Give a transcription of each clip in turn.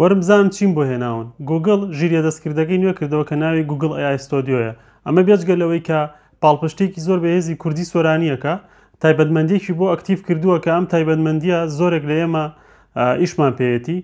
وەرم بزانم چیم بۆ هێناون. گووگڵ ژیرییە دەستکردەکەی نوێ کردەوە کە ناوی گووگڵ ئەی ئای ستۆدیۆیە. ئەمە بێجگە لەوەی کە پاڵپشتییەکی زۆر بەهێزی کوردی سۆرانییەکە، تایبەتمەندییەکی بۆ ئەکتیڤ کردووە کە ئەم تایبەتمەندییە زۆرێک لە ئێمە ئیشمان پێیەتی.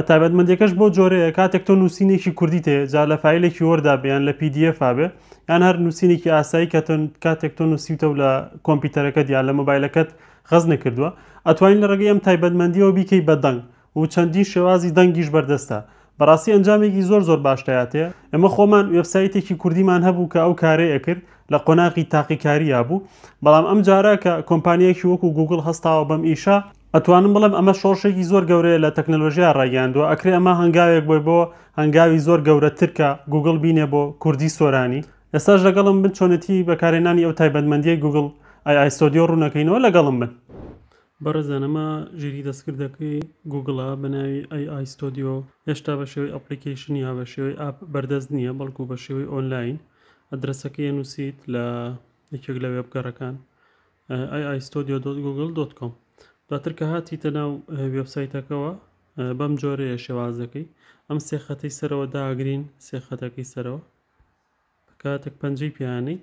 تایبەتمەندییەکەش بەو جۆرەیە کاتێک تۆ نووسینێکی کوردیت هەیە، جا لە فایلێکی وۆردا بێ یان لە پی دی ئێفا بێ یان هەر نووسینێکی ئاسایی کە کاتێک تۆ نووسیوتە و لە کۆمپیوتەرەکەت یان لە مۆبایلەکەت غەزنە کردووە، ئەتوانی لە ڕێگەی ئەم تایبەتمەندیەوە بیکەی بە دەنگ و چەندین شێوازی دەنگیش بەردەستە، بەڕاستی ئەنجامێکی زۆر زۆر باش دەاتێ، ئێمە خۆمان وێبسایتێکی کوردیمان هەبوو کە ئەو کارەی ئەکرد لە قۆناغی تاقیکاریا بوو، بەڵام ئەم جارە کە کۆمپانیایەکی وەکو گووگڵ هەستاوە بەم ئیشە، ئەتوانم بڵێم ئەمە شۆڕشێکی زۆر گەورەیە لە تەکنەلۆژیا ڕایگەیاندووە، ئەکرێ ئەمە هەنگاوێک بووێ بۆ هەنگاوی زۆر گەورەتر کە گووگڵ بینێ بۆ کوردی سۆرانی. ئێستاش لەگەڵم بن چۆنێتی بەکارهێنانی ئەو تایبەتمەندیەی گوگڵ ئای ئایستۆدیۆ ڕوونەکەینەوە لەگەڵم بن. بەڕێزان ئەمە ژیری دەستکردەکەی گوگڵە بەناوی ئای ئایستۆدیۆ هێشتا بە شێوەی ئەپڵیکەیشن یا بە شێوەی ئاپ بەردەست نییە بەڵکو بە شێوەی ئۆنلاین ئەدرەسەکەی ئەنووسیت لە یەکێک لە وێبگەڕەکان ئای ئایستۆدیۆ دۆت گوگڵ دۆت کۆم دواتر کە هاتیتە ناو وێبسایتەکەەوە بەم جۆرەیە شێوازەکەی ئەم سێخەتەی سەرەوە داگرین سێخەتەکەی سەرەوە کاتێک پەنجەی پیانەی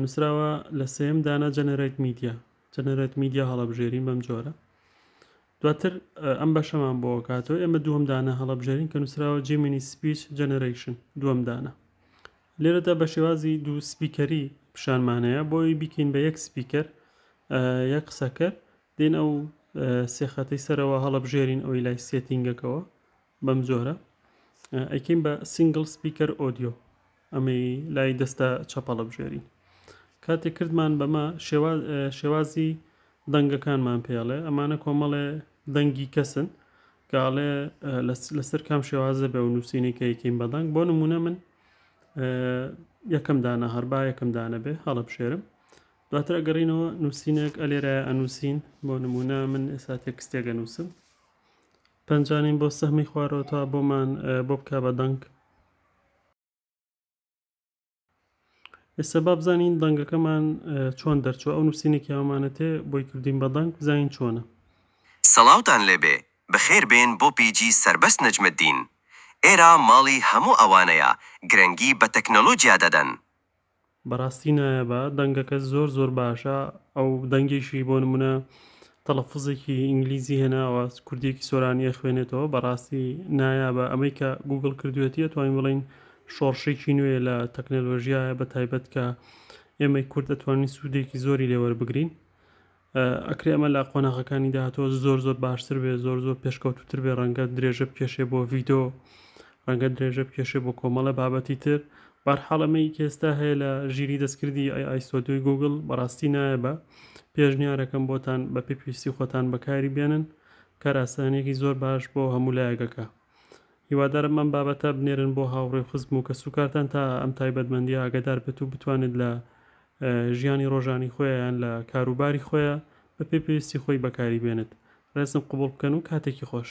نووسراوە لە سێم دانا جەنەرەیت میدیا جەنەرەت میدیا هەڵەبژێرین بەم جۆرە دواتر ئەم بەشەمان بۆ کاتەوە ئێمە دووەم دانە هەڵەبژێرین کە نووسراوە جیمینی سپیچ جەنەرەیشن دووەم دانە لێرەدا بە شێوازی دوو سپیکەری پیشانمانەیە بۆی بیکەین بە یەک سپیکەر یەک قسەکەر دێن ئەو سێخەتەی سەرەوە هەڵەبژێرین ئەوی لای سێتینگەکەەوە بەم جۆرە ئەیکەین بە سینگل سپیکەر ئۆدیۆ ئەمەی لای دەستە چەپەڵە بژێرین کاتێک کردمان بەمە شێوازی دەنگەکانمان پێڵێ ئەمانە کۆمەڵێ دەنگی کەسن کاڵێ لەسەر کام شێوازە بێ و نووسینی کە یەکەین بەدەنگ بۆ نمونە من یەکەم دانە هەربا یەکەم دانە بێ هەڵە بشێرم دواتر ئەگەڕینەوە نووسینێک ئەلێرە ئەنووسین بۆ نمونە من ئێستا تێکستێگە نووسم پەنجانیم بۆ سەهمی خوارەوە تا بۆمان بۆ بکە بە دەنگ. ئێستا با بزانین دەنگەکەمان چۆن دەرچوە ئەو نووسینێکی هەمانە تێ بۆی کردین بە دەنگ بزانین چۆنە. سڵاوتان لێبێ بەخێر بێن بۆ پیجی سەربەست نەجمەدین. ئێرە ماڵی هەموو ئەوانەیە گرنگی بە تەکنەلۆجیا دەدەن. بەراستی نایابە دەنگەکەت زۆر زۆر باشە ئەو دەنگێکی بۆ نمونە تەلەفزێکی ئینگلیزی هێناوە کوردێکی سۆرانی ئەخوێنێتەوە بەڕاستی نایابە ئەمەی کە گوگل کردوێتیە توانین بڵین شۆڕشێکی نوێ لە تەکنەلۆژیایە بە تایبەت کە ئێمەی کورد ئەتوانین سوودێکی زۆری لێوەربگرین ئەکرێ ئەمە لە قۆناغەکانی داهاتوە زۆر زۆر باشتر بێ زۆر زۆر پێشکەوتوتر بێ ڕەنگە درێژە بکێشێ بۆ ڤیدۆ ڕەنگە درێژە بکێشێ بۆ کۆمەڵە بابەتی تر بارحاڵەمەی کێستا هەیە لە ژیری دەستکردی ئەی ئایسۆدوی گوگل بەڕاستی نایە بە پێشنیارەکەم بۆتان بە پێ پێویستی خۆتان بەکاری بێنن کاراسانێکی زۆر باش بۆ هەموو لایەکەکە هیوادارم من بابەتە بنێرن بۆ هاوڕێ خزم و کەسوکارتان تا ئەم تایبەتمەندی ئاگدار بێت و بتوانێت لە ژیانی ڕۆژانی خۆیان یان لە کاروباری خۆیا بە پێی پێویستی خۆی بەکاری بێنێت ڕێزم قبوڵ بکەن و کاتێکی خۆش.